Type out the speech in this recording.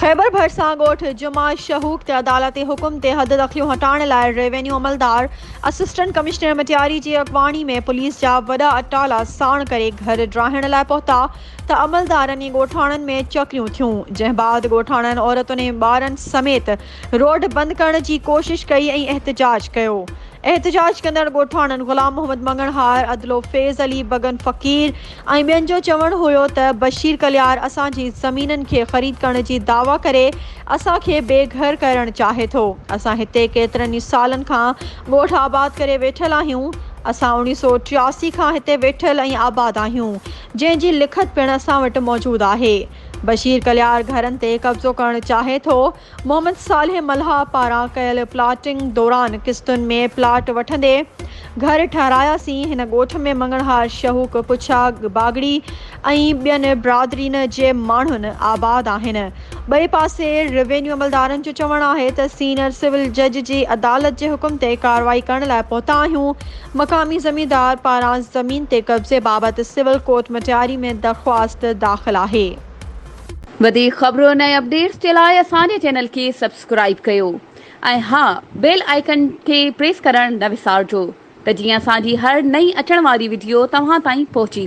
خيبر ڀرسان ڳوٺ جمعه شهوڪ تي عدالتي حڪم تي حد دخليون هٽائڻ لاء ريونيو عملدار اسسٽنٽ ڪمشنر مٽياري جي اڳواڻي ۾ پوليس جا وڏا اٽالا ساڻ ڪري گهر ڊاهڻ لاء پهتا ته عملدارن ۽ ڳوٺاڻن ۾ چڪريون ٿيون جنهن بعد ڳوٺاڻن عورتن ۽ ٻارن سميت روڊ بند ڪرڻ جي ڪوشش ڪئي ۽ احتجاج ڪيو. احتجاج ڪندڙ ڳوٺاڻن غلام محمد مڱڻهار، عدلو فيض علي، بگن فقير ۽ ٻين جو چوڻ هيو ته بشير ڪليار اسان جي زمينن کي خريد ڪرڻ جي دعويٰ ڪري اسان کي بي گهر ڪرڻ چاهي ٿو. اسان هتي ڪيترن ئي سالن کان ڳوٺ آباد ڪري ويٺل آهيون. اسان اوڻيهه سؤ ٽياسي کان هتي ويٺل ۽ آباد آهيون، جنهن جي لکت پڻ اسان وٽ موجود آهي. بشير ڪليار گهرن تي قبضو ڪرڻ چاهي ٿو. محمد صالح ملهاء پاران ڪيل پلاٽنگ دوران قسطن ۾ پلاٽ وٺندي گهر ٺهراياسين، هن ڳوٺ ۾ مڱڻهار شهوڪ پڇا باگڙي ۽ ٻين برادرين جي ماڻهن آباد آهن. ٻئي پاسي روينيو عملدارن جو چوڻ آهي ته سينئر سول جج جي عدالت جي حڪم تي ڪارروائي ڪرڻ لاء پهتا آهيون، مقامي زميندار پاران زمين تي قبضي بابت سول ڪورٽ مٽياري ۾ درخواست داخل آهي. وڌيڪ خبرن ۽ اپڊيٽس جي لاء اسان جي چينل کي سبسڪرائيب ڪيو ۽ ها بيل آئيڪن کي پريس ڪرڻ نه وسارجو ته جيئن اسان جي هر نئين اچڻ واري وڊيو توهان تائين پهچي